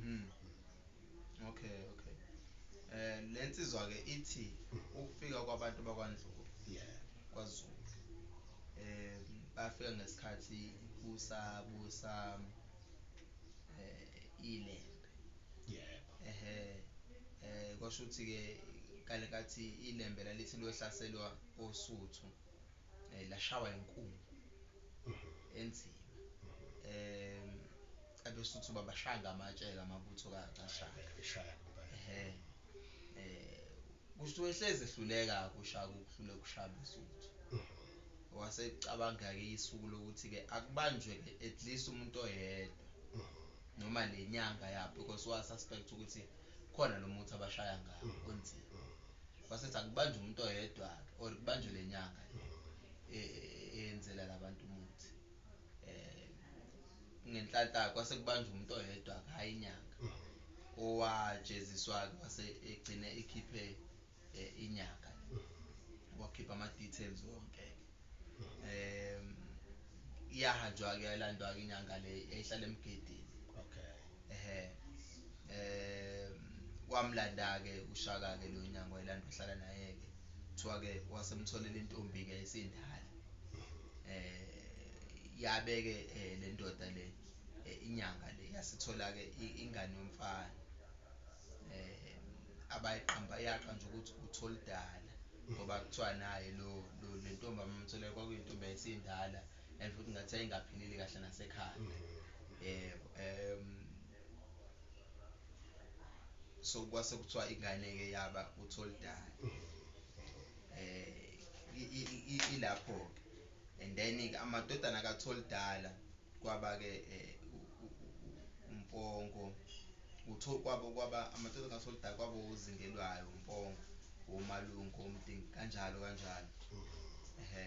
Hmm. Okay, okay. Eh lensizwa ke ithi ukufika kwabantu bakwaNdlovu. Yeah. KwaZulu. Eh bafika ngesikhathi kusabusa eh ilembe. Yebo. Ehhe eh kwasho ukuthi ke kale kathi ilembe lalithi lohlaselwa oSuthu eh lashawa inkungu mhm. enzima. Mhm. Eh abesuthu babashaya ngamatshe-ke amabutho kashaka eshaya ehe eh kusho wehlezi ehluleka kushaka ukuhlule kushaya besuthu wase cabanga ke isuku lokuthi ke akubanjwe ke at least umuntu oyedwa noma lenyanga ya because wa suspect ukuthi khona lo muthi abashaya ngawo onzima wasethi akubanjwe umuntu oyedwa or kubanjwe lenyanga eh, eh, eyenzela labantu umuthi um ngenhlanhla kwase kubanjwa umuntu oyedwa hhayi inyanga owajeziswa-ke wase egcine ekhiphe um inyanga wakhipha ama-details wonke-ke um iyahanjwa-ke yalandwa-ke inyanga le yayihlala emgedini okay ehe eh wamlanda ke ushaka ke lo nyango elanda uhlala naye ke kuthiwa ke wasemtholela intombi ke isindala eh yabeke eh, le ndoda le eh, inyanga le yasithola ke ingane yomfana eh abayiqamba yaqanja ukuthi utholidala ngoba kuthiwa naye lo lentombi amamtholela kwakuyintombi yayisindala and futhi ngathi yayingaphilile kahle nasekhaya mm. yebo um so kwase kuthiwa ingane ke yaba utholdala mm. eh ilapho ke and then ke amadodana katholdala kwaba ke eh, umpongo utho kwabo kwaba amadodana katholdala kwabo uzingelwayo umpongo womalungu omdingi kanjalo kanjalo mm. ehe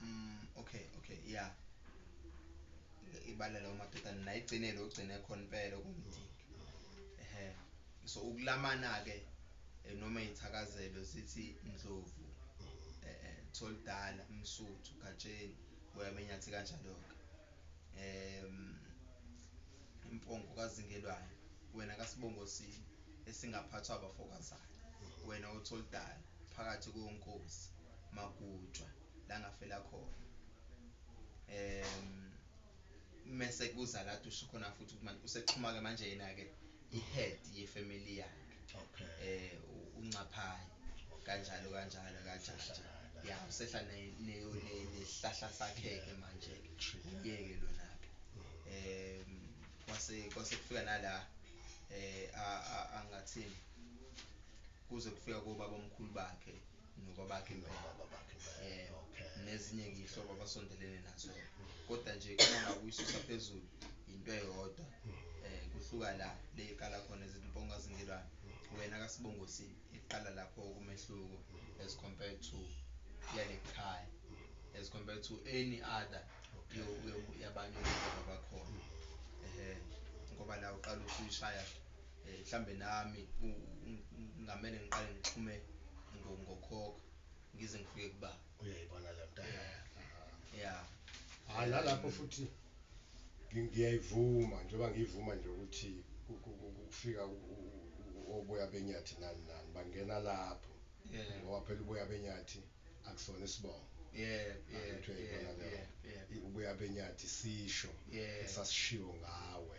mm okay okay yeah ibalela umadodana naye igcinele ogcine khona impela okumdingi ehe so ukulamana ke eh, noma izithakazelo zithi ndlovu eh, eh tholidala umsuthu gatsheni uyamenyathi kanjalo ke em impongo kazingelwayo wena kasibongo sini esingaphathwa abafokazana wena otholidala phakathi konkosi magujwa la ngafela khona um mese kuza la dusho khona futhi ukuthi manje usexhuma-ke manje yena-ke i-head yefamily yakhe okay eh uncaphayo kanjalo kanjalo kanjalo ya usehla nesihlahla sakhe-ke manje-ke uyeke lona-ke um kwase kwase kufika nala um angathini kuze kufika kobabomkhulu bakhe nokwabakhe impela um nezinye-ke iy'hlobo abasondelene nazo kodwa nje uma ngakuyisusa phezulu yinto eyodwa um kuhluka la le iqala khona ezimponga zingelwane wena kasibongosini iqala lapho kumehluko as compared to yale khaya as compared to any other yabanye oba bakhona um ngoba la uqala uthuyishaya eh, mhlambe nami ngamele ngiqale ngixhume ngokhokho ngize ngifike kuba uyayibona le nto ya hayi nalapho futhi ngiyayivuma njengoba ngiyivuma nje ukuthi kufika oboya benyathi nani nani bangena lapho ngoba phela uboya benyathi akusona isibongo ubuya benyathi sisho esasishiwo ngawe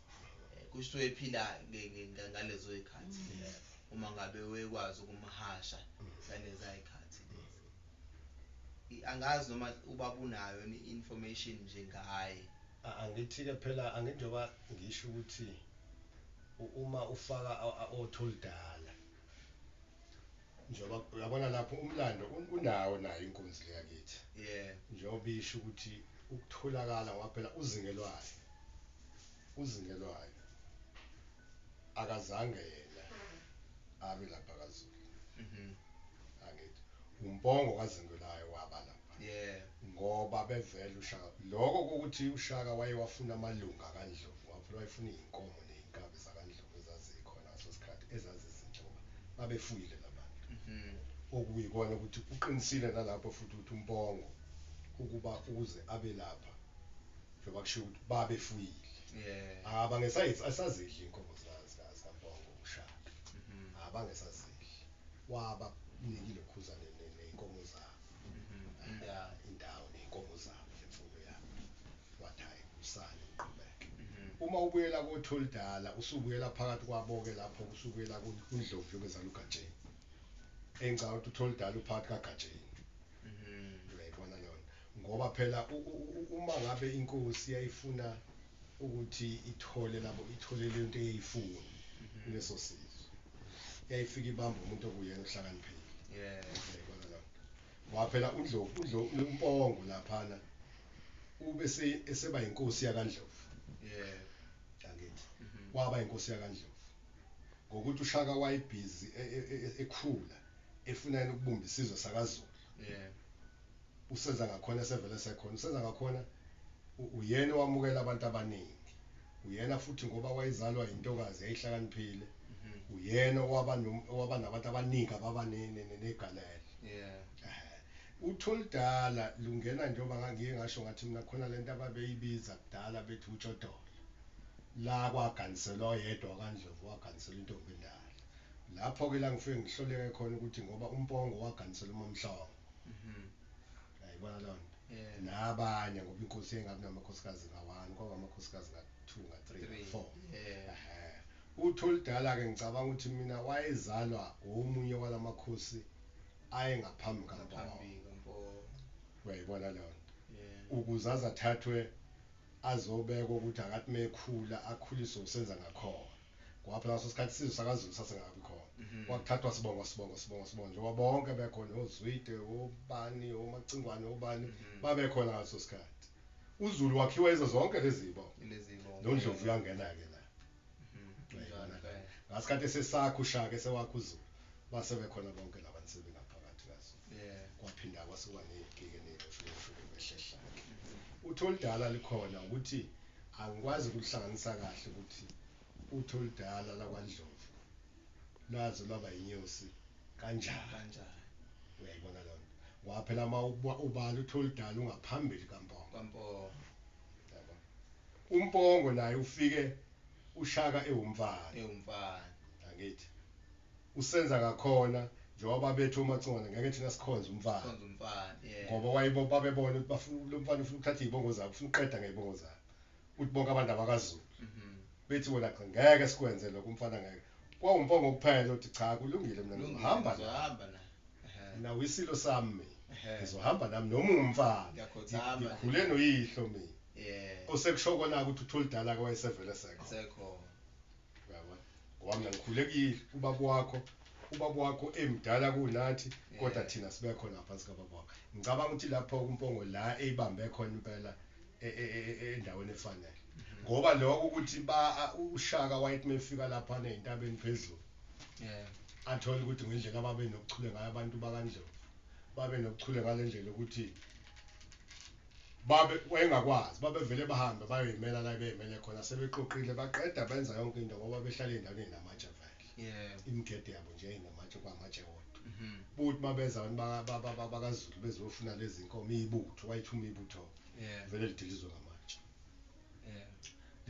Kusho ephila ngalezo ikhathi uma ngabe wekwazi ukumhasha ngaleza ikhathi lezi. Angazi noma ubabunayo ni information nje ngaye. Angithi ke phela angithi njengoba ngisho ukuthi uma ufaka othi oludala njengoba uyabona lapho umlando un- unawo nayo inkunzi le yakithi Yeah. njengoba isho ukuthi ukutholakala ngoba phela uzingelwayo uzingelwayo akazange yena abe lapha kazulu Mhm. angithi umpongo kazingelwayo waba lapha Yeah. Ngoba bevele uShaka. Lokho kokuthi uShaka wayewafuna amalunga kaNdlovu, wavele wayefuna izinkomo nezinkabi zakaNdlovu ezazikhona ngaso sikhathi ezazizinhle ngoba babefuyile labantu. Okuyikona ukuthi uqinisile nalapho futhi ukuthi uMpongo ukuba ukuze abe lapha njengoba kushiwo ukuthi babefuyile. Yeah. Abangesayidli asazidli izinkomo zika zika zikaMpongo uShaka. Abangesazidli. Wabanikile uKhuzane ne- nezinkomo zabo. aya indawo ney'nkomo zabo nemfuyo yabo wathi hhayi kusale ngiqhubeke uma ubuyela koTholidala usubuyela phakathi kwabo-ke lapho usubuyela ku- kundlovu yokwezala uGatsheni engicabanga ukuthi uTholidala uphakathi kaGatsheni uyayibona leyo nto ngoba phela u- u- u- uma ngabe inkosi yayifuna ukuthi ithole labo ithole lento eyayifuna kuleso sizwe yayifika ibamba umuntu okuyena ohlakaniphile yeah yayibona lapho ngoba phela undlovu undlovu umpongo laphana ube se eseba inkosi yakandlovu yeah angithi waba inkosi yakandlovu ngokuthi ushaka wayibhizi e, e, e, ekhula efuna yena ukubumba isizwe sakazulu yeah usenza ngakhona esevele esekhona usenza ngakhona uyena owamukela abantu abaningi uyena futhi ngoba wayezalwa yintokazi yayihlakaniphile mhm. uyena owaba owaba nabantu abaningi ababa negalelo yeah uthulidala lungena njengoba ngangiye ngasho ngathi mina khona lento ababeyibiza kudala bethi utshodolo la kwaganiselwa oyedwa kandlovu waganiselwa intombi endala lapho ke la ngifike ngihloleke khona ukuthi ngoba umpongo waganisela umamhlongo Mhm. Yayibona loo nto. Yeah. Nabanye ngoba iinkosi yayingabi namakhosikazi nga-one, kwakungamakhosikazi nga-two, nga-three, Three. nga-four. Yeah. Ehhe. UTholidala-ke ngicabanga ukuthi mina wayezalwa womunye wala makhosi ayengaphambi kaMpondo. Ngaphambi kaMpondo. Uyayibona leyo nto. Yeah. ukuze aze athathwe azobekwa ukuthi akathi mekhula akhuliswe usenza ngakhona ngoba phela ngaso sikhathi isizwe sakazulu sasingakabi khona mhm. kwakuthathwa sibongo sibongo sibongo sibongo njengoba bonke bekhona ozwide obani omacingwane obani mhm. babekhona ngaso sikhathi uzulu wakhiwa izo zonke lezi zibongo nondlovu uyangena-ke la mhm. ngasikhathi esesakha ushaka esewakha uzulu base bekhona bonke laba nsebenzi kwaphinda kwasuka ngey'gike ney'shukeshukebe ehlehla-ke uthi oludala likhona ukuthi Angikwazi ukuhlanganisa kahle ukuthi uthi oludala lakwaNdlovu lwaze lwaba yinyosi kanjani. Uyayibona leyo nto? Ngoba phela uma ubala uthi oludala ungaphambili kaMpongo. Yabo. UMpongo naye ufike uShaka ewumfana. Angithi? usenza ngakhona njengoba babethu omacingwane ngeke thina sikhonze umfana ngoba wayibo babebona ukuthi bafuna lo mfana ufuna ukuthatha izibongo zabo ufuna uqeda ngezibongo zabo ukuthi bonke abantu abakazulu mhm. bethi wena cha ngeke sikwenze lokho umfana ngeke kwawumpongo kuphela uthi cha kulungile mina ngizohamba ngizohamba na mina wisilo sami ngizohamba nami noma umfana ngikhule noyihlo mina osekusho kona ukuthi uthulidala ke wayesevele sekho Uyabona? Ngoba mina ngikhule kuyile ubaba wakho ubaba wakho emdala kunathi kodwa eh. thina sibe khona ngaphansi kababa wakho ngicabanga ukuthi lapho kumpongo la eyibambe khona impela e, e, e, endaweni efanele mhm. ngoba lokho ukuthi ba ushaka wayethi mefika lapha nezintabeni phezulu yeah athola ukuthi ngendlela ababe nokuchule ngayo abantu bakandlovu babe nokuchule ngalendlela ukuthi babe wayengakwazi babevele bahambe bayoyimela la beyimele khona sebexoqile baqeda benza yonke into ngoba behlala endaweni enamatshe vele yeah imigede yabo nje inamatshe kwamatshe wodwa mhm buthi mabeza abantu bakazulu bezofuna lezi nkomo ibutho wayithuma ibutho yeah vele lidilizwe ngamatshe yeah